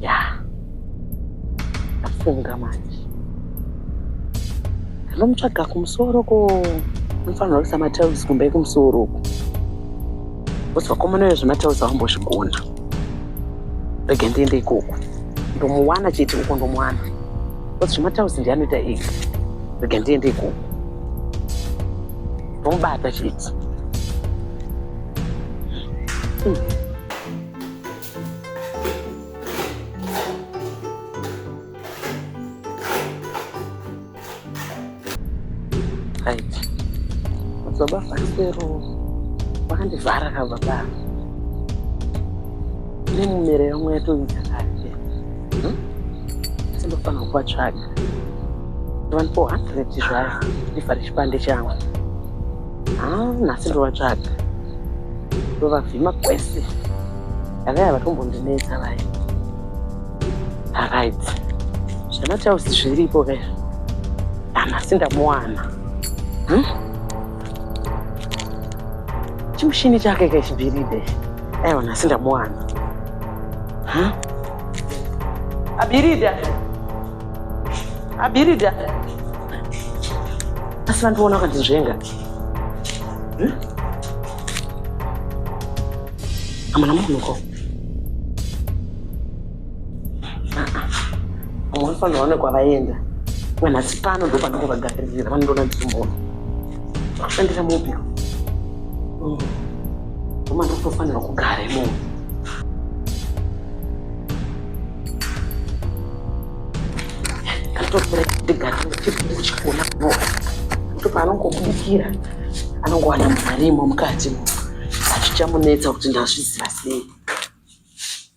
ya ndafunga manje ndinomutsvaga kumusoro ko anofanirwa kuisa matiles kumba yekumusoro uku bcause vakomana uyo zvematiles avambozvigona rege ndiende ikoko ndomuwana chete uko ndomuwana bcause zvematiles ndianoita ega rege ndiende ikoko Vomubata chidzi. Mm. baba Fasero vakandivhara ka baba nemumere yamwe yatoita kare Hmm? Asi ndofanirwa kuvatsvaga. Ndovanipo hundred zvaya ndivhare chipande changu. Ah, nhasi ndovatsvaga. Ndovavhima kwese. Avaya vatombondinetsa vaya. Alright. Zvana chausi zviripo kaya. Nhasi ndamuwana. Hmm? chimushini chake kechibhiride aiwa nhasi ndamuwana abirida abirida asi vandiona vakandizvenga hm? amana munhuko Unofanira one kwavaenda. Kana sipano ndo panenge vagaririra vanondona dzimbo. Kushandira mobi. Koma ndotofanira kugara imomo. Katotora ndigara chipindu chikona no. Kuti paanongobudikira anongowana mari imo mukati mo. Achichamunetsa kuti ndazviziva sei.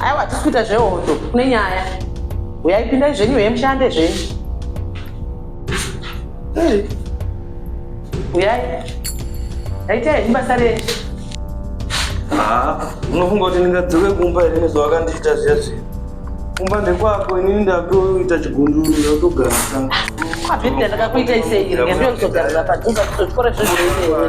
aiwa hatisi kuita zvehondo kune nyaya uyaipindai zvenyu he mushande zvenyu uyai aita henyu basa renyu ah, unofunga kuti ndingadzoke kumba here nezvawakandiita zviya zviya kumba ndekwako inini ndakuita chigunduru ndakutogara kwabhibhia ndakakuita iseiri ngendokuzogarira padhuza kuzozvikora zvezveinewe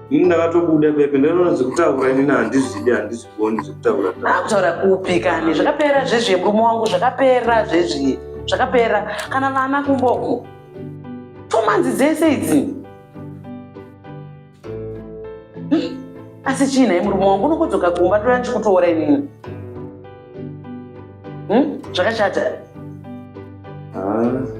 ini ndakatobuda pepe ndinoona zvekutaura inini handizvidi handizvigoni zvekutaura akutaura kupi kani zvakapera zvezvi murume wangu zvakapera zvezvi zvakapera kana vana kumboko fomanzi dzese idzi hmm? asi chii nhai murume wangu unokodzoka kumba ndoda ndichikutoora inini hmm? zvakashata ah.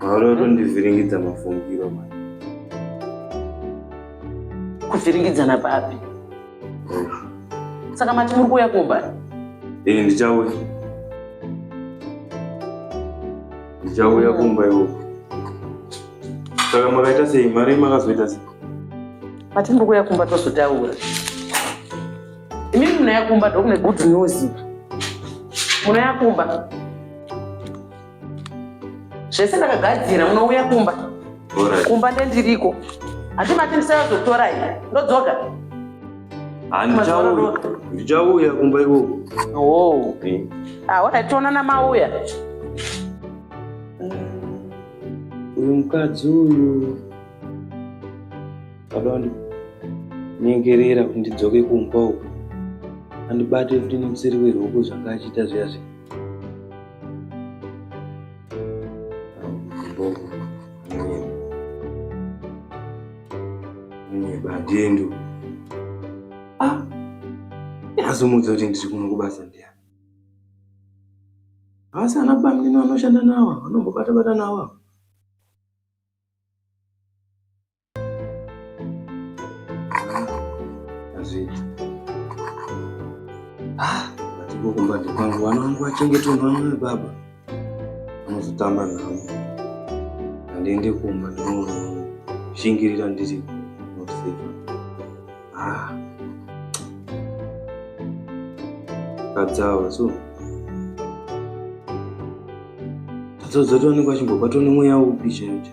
Mauro tondivhiringidza mafungiro ma. Kuvhiringidzana papi? Saka mati muri kuuya kumba? Ini ndichauya. Ndichauya kumba iwo. Saka makaita sei? Mari makazoita sei? Mati muri kuuya kumba tozotaura. Imi munouya kumba ndokune good news. Munouya kumba. zvese ndakagadzira munouya kumba kumba ndendiriko hati mati ndisayazotora i ndodzoka ndichauya kumba ikoko oh. aona ah, tionana mauya uyu mukadzi uyu adonda nyengerera kuti ndidzoke kumba uku andibate kuti nemusiri weroko zvanga achita zviya zviya Dendo. Ah. Yazomudza kuti ndiri kuno kubasa ndiya. Asi ana bamnini vanoshanda nawa, vanombobata bata nawa. Ah, natiko kumbatso kwangu vana vangu vachengete unamwe baba anozotamba navo handiende kumba ndinoshingirira ndiri nosefa ah. kadzawa so dzodzotoonekwa chimbobatwa nemweya upi chaicho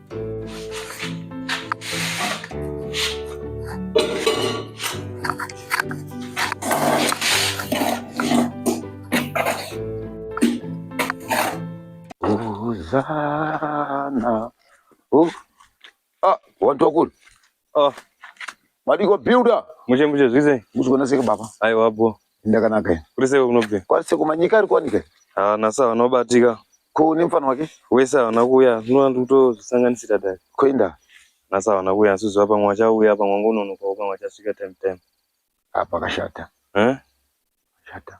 Hosanna. Oh. Ah, wantu wakulu. Oh. Madiko builder. Mushe mushe zvize. Muzvigona seke baba. Aiwa bho. Ndakanaka ine. Kuri seke kunobve. Kwari seke kumanyika ari kwanika. Ah nasa vanobatika. Ko ne mfana wake? Wese havana kuuya. Zvinoda kuti utozvisanganisira dai. Koinda. Nasa havana kuuya asi zuva pamwe vachauya pamwe ngononoka pamwe vachasvika time time. Apa kashata. Eh? Kashata.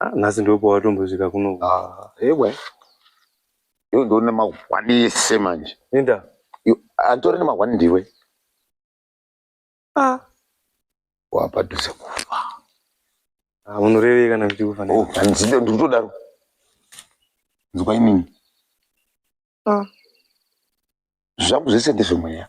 Ah, nhasi ndipo pawatombosvika kuno Ah, ewe iwe ndiwe une mahwani ese manje linda You- anditori nemahwani ndiwe ah wapadhuze kufa ah, munorevei kana kuti kufa Oh, handizive ndikutodaro nzwa inini Ah. zvangu zvese ndezvemweya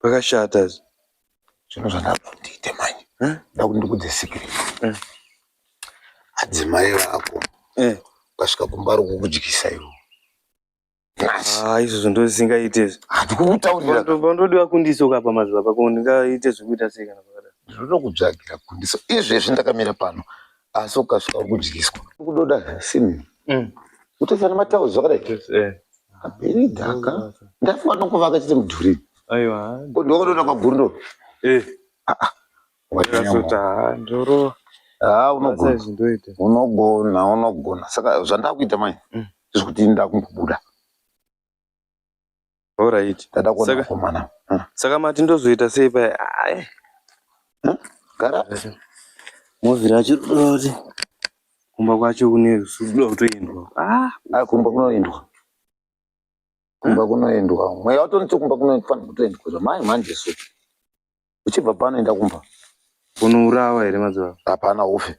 Pakashata izvi. Zvino zvandakuda kuti ndiite manje. Eh? Ndakuda kuti ndikudze secret. Eh. Adzimai vako. Eh. Ukasvika kumba ro kukudyisa iwo. Ah, izvozvo ndozisingaite izvi. Handikukutaurira. Ndodiwa kundiso kapa mazuva pako ndingaite zvekuita sei kana pakadaro. Ndinoda kutsvagira kundiso. Izvezvi ndakamira pano. asi ukasvika kudyiswa kudoda zvasimbi mm. kutoisa nematauzi zvakadai eh. aperi dhaka ndafunga nokuvaka chete mudhuri ko ndokadona kwagundo eh. ah, ah. ah, unogona unogona saka zvandakuita manje mm. zvekuti ndakumbobuda Alright. Ndada kuona Saka- mkomana. Ah, Saka mati ndozoita sei paya? Ai, ah, Gara. Movira achiroti kumba kwacho kune rusudo kutoendwa. Ah, Ah, kumba kunoendwa. Kumba kunoendwa. Mweya watonetse kumba kunofanira kutoendwa. Zvamai manje so. Uchibva pano enda kumba. unourawa here mazuva? Hapana ufe.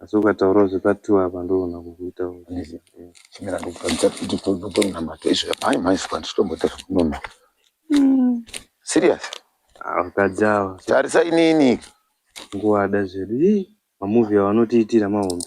Asi ukataurawo zvepa two apa ndoona kukuita Yes. eh. Chimera ndokutadza kuti ndotonamata izvo amai mhai saka ndichitomboita zvekunona. Serious. Ah, vakadzi ava so Tarisa inini. kungowada zvedu. Hii, mamovie awa anotiitira mahombe.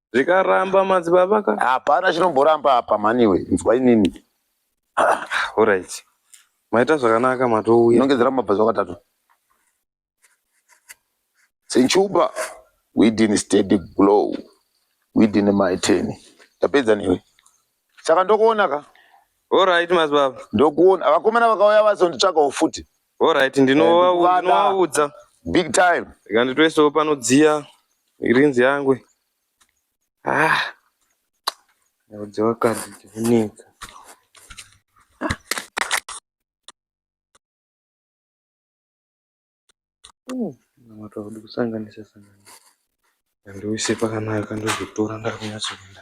zvikaramba madzibaba ka hapana chinomboramba apa mhaniwe nzwa inini horaiti maita zvakanaka matouya inongedzera mabva zvakatatu senchuba within steady glow within my ten ndapedza newe saka ndokuona ka horaiti madzibaba ndokuona vakomana vakauya vazonditsvagawo futi Alright, Eh, ndinova- ndikuvada. ndinovaudza big time rega nditoisewo panodziya irinzi yangu ah yaudza vakadzi chivunetsa matwaudi kusanganisa sanganisa ndoise pakanaka ndozotora ndakunyatsoenda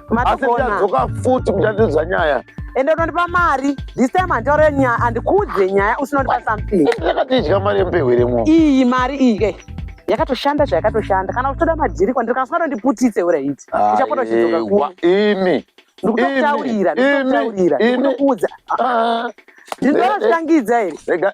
asi ndichadzoka futi kuti andiudza nyaya ende unondipa mari this time handitaure nyaya handikuudze nyaya usinondipa something ndakati idya mari yemupehweremo iyi mari iyi yakatoshanda zvayakatoshanda kana uchitoda madhiri kwandiri kana usingatondiputitse urahiti uchapota uchidzoka kuno imi ndikutokutaurira ndikutokutaurira ndikuudza ndinotoshangidza here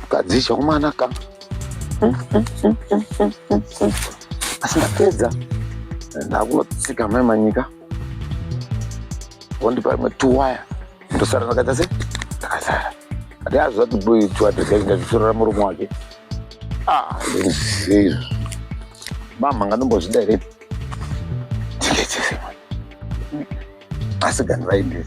Mukadzi chakumana ka. Asi ndapedza. Ndakunotsika mai manyika. Vondipa rimwe tuwaya. Ndosara ndakaita se ndakasara. Ati azviziva kuti boy tuwaya tezai ndazvisorera murume wake. Ah, ndizizvi. Mama nganombozvida here? Tikechese. Asi ganhu vaindiri.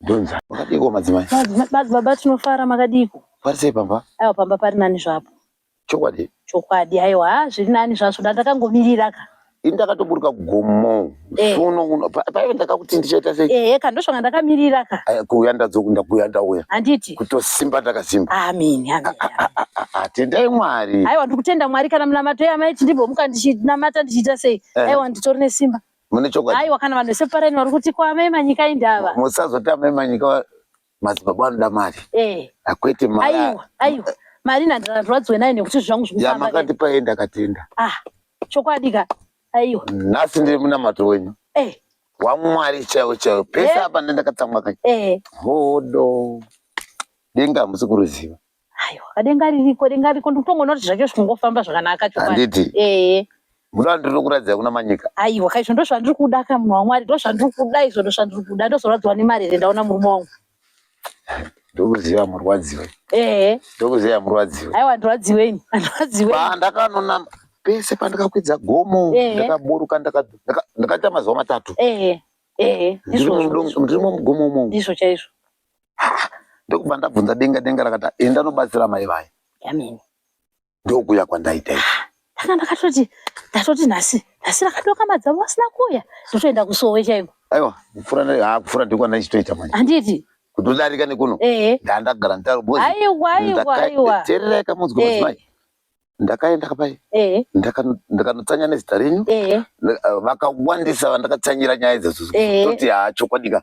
Donza. Makadiko madzimai. Baba tinofara makadiko. Pari sei pamba? Aiwa pamba pari nani zvapo. Chokwadi. Chokwadi aiwa ha zviri nani zvazvo ndakangomirira ka. Ini ndakatoburuka kugomo. Eh. Sono uno paive ndakakuti ndichaita sei? Eh ka ndosvanga ndakamirira ka. Eh, kuuya ndadzokunda kuuya ndauya. Handiti. Kutosimba ndakasimba. Amen. Amen. Ah, ah, ah, atendai mwari aiwa ndikutenda mwari kana munamato yamai tindibhomuka ndichinamata ndichiita sei eh. aiwa nditori nesimba mune chokwadi aiwa kana vanhu vese paraini vari kuti kwame manyika indava musazoti amai manyika madzibaba anoda mari eh hakwete mari aiwa aiwa mari ndandirwadziwe nayo nekuti zvangu ya zvikufamba makati paenda katenda ah chokwadi ka aiwa nhasi ndiri munamato wenyu eh wamwari chaiwo chaiwo pese Eh. apa ndendakatsamwa kake eh hodo denga hamusi kuruziva Aiwa, denga ririko, denga ririko. Ndikutongoona kuti zvacho zvikungofamba zvakanaka chokwadi. Handiti? Eh. Muno ndinokuratidza kuna manyika. Aiwa, ka izvo ndozvandiri kuda ka munhu waMwari, ndozvandiri kuda izvo ndozvandiri kuda. Ndozorwadziwa nemari here ndaona murume wangu. Ndokuziva murwadziwe. Eh. Ndokuziva murwadziwe. Aiwa, ndirwadziweni. Ndirwadziweni. Pandakanonama pese pandakakwidza gomo Eh. ndakaburuka ndaka- ndaka- ndakaita mazuva matatu Eh. Eh. Ndiri Ndizvo. mudo- ndiri mugomo umomo Ndizvo chaizvo. ndokubva ndabvunza denga denga rakata enda nobatsira mai vaye yamene ndokuya kwandaita i ndanga ndakatoti ndatoti nhasi nhasi rakadoka madzavo asina kuuya ndotoenda kusowe chaiko aiwa kupfura ha kupfura ndiko ndaichitoita manje handiti kutodarika nekuno ndandagara nditaroboterereka munzwi mudzimai ndakaenda kapai ndakanotsanya nezita renyu vakawandisa vandakatsanyira nyaya idzodzo toti ha chokwadika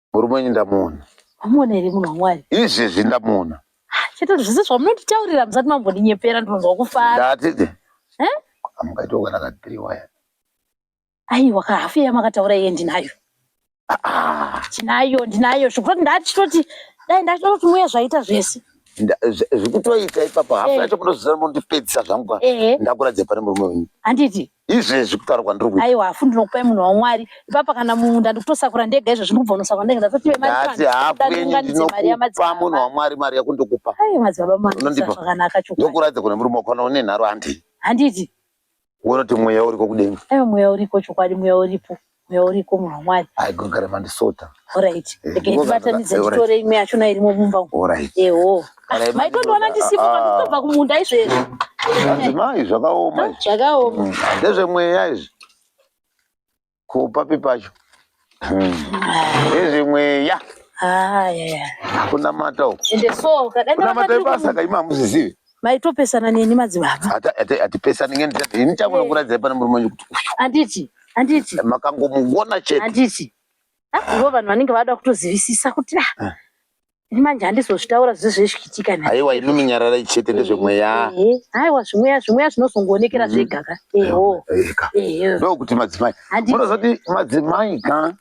murume wenyu ndamuona wamuona here munhu wamwari izvezvi ndamuona chete zvese zvamunonditaurira musati mambondinyepera ndinonzwa kufara ndatete eh? amukaitokana ka three waya aiwa ka hafu yamakataura iye ndinayo ah, ah. ndinayo ndinayo zvekuti ndatitoti dai ndatitoti muya zvaita zvese zvikutoita ipapa hafu eh. yacho munozozana mondipedzisa zvangu ndakuradze pane murume wenyu handiti izvezvi kutaura kwandiri kuita aiwa hafu ndinokupai munhu wamwari ipapa kana munda ndikutosakura ndega izvezvi ndikubva unosakura ndega ndatotiwe mari ndati hafu yenyu ndinokupa munhu wamwari mari yako ndokupa ai madzibaba manondipa zvakanaka chokwadi ndokuratidza kune murume wakaona une nharo handiti handiti unoti mweya uriko kudenga aiwa mweya uriko chokwadi mweya uripo mweya uriko munhu wamwari aigogara mandisota orit ndikaibatanidza nditore imwe yachona irimo mumba eho maitondiona ndisimuka ndikutobva kumunda izvezvi madzimai zvakaoma zvakaoma mm. ndezvemweya izvi kupapi pacho ndezvemweya mm. kunamata ukunamata ibasa kaima hamuzizivi maitopesana neni madzibaba hatipesani ngeni chati ini changu nokuradzai pana murume wanyu kuti uyu handiti handiti eh, makangomuona chete handiti ivo vanhu vanenge vada kutozivisisa kuti ah, ah. ini manje handizozvitaura zvizo zvezvikitika na aiwa imi munyararai chete ndezvemweya aiwa zvimweya zvimweya zvinozongoonekera mm-hmm. zvega ka eho ndokuti madzimai munozoti madzimai ka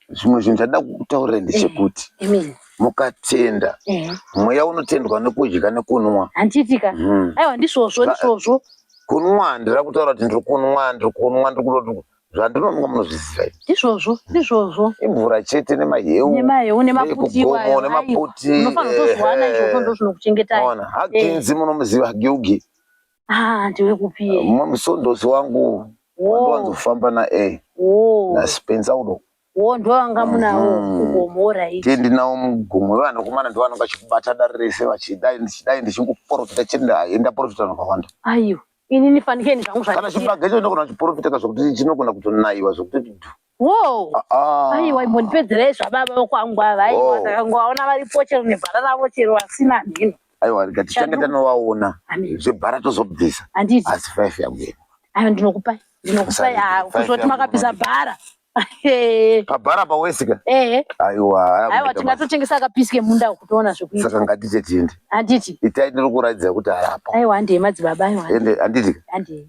zvimwe zvinhu zvada kutaurira ndechekuti eh, mukatenda eh. mweya unotendwa nekudya nekunwa handiitika hmm. aiwa ndisvozvo ndisvozvo kunwa ndira kutaura kuti ndiri kunwa ndiri kunwa ndiri kutoti zvandinonwa munozviziva ndizvozvo ndizvozvo imvura chete nemaheu nemaheu nemaputiwayo nemaputi unofanira kutozwana izvozvo ndozvinokuchengetai haginzi munomuziva hagiugi Ah, ndiwe kupi? Musondosi wangu wandiwanzofamba naye naSpencer udo wo ndovanga munawo mhm. mugomo right ndiye ndinawo mugomo vevanakomana ndovanonga chikubata dare rese vachidai ndichidai ndichingoprofita chete ndaenda profita nakawanda aiwa inini fanikeni zvangu kana chibage cho ndinogona kuchiprofita ka zvokuti chinogona kutonaiwa zvokuti dhu Wow. Ah, ah. Aiwa imbondipedzerei zvababa vokwangu ava aiwa Wow. ndakangovaona varipo chero nebhara ravo chero vasina mhino aiwa rega tichange Shadu. tanovaona Amen. zvebhara tozobvisa handiti asi five yangu iri ayo ndinokupai ndinokupai Musarege. ah, Five kuzoti yangu makabvisa ndinokupa. bhara Ehe. pabhara pawesika ehe aiwa aiwa hakuita tingatotengesa akapisi kemunda uku toona mabasa. zvekuita saka ngatite tiende handiti itai ndiri kuraidzira kuti harapo aiwa handei madzibaba aiwa ende handiti handei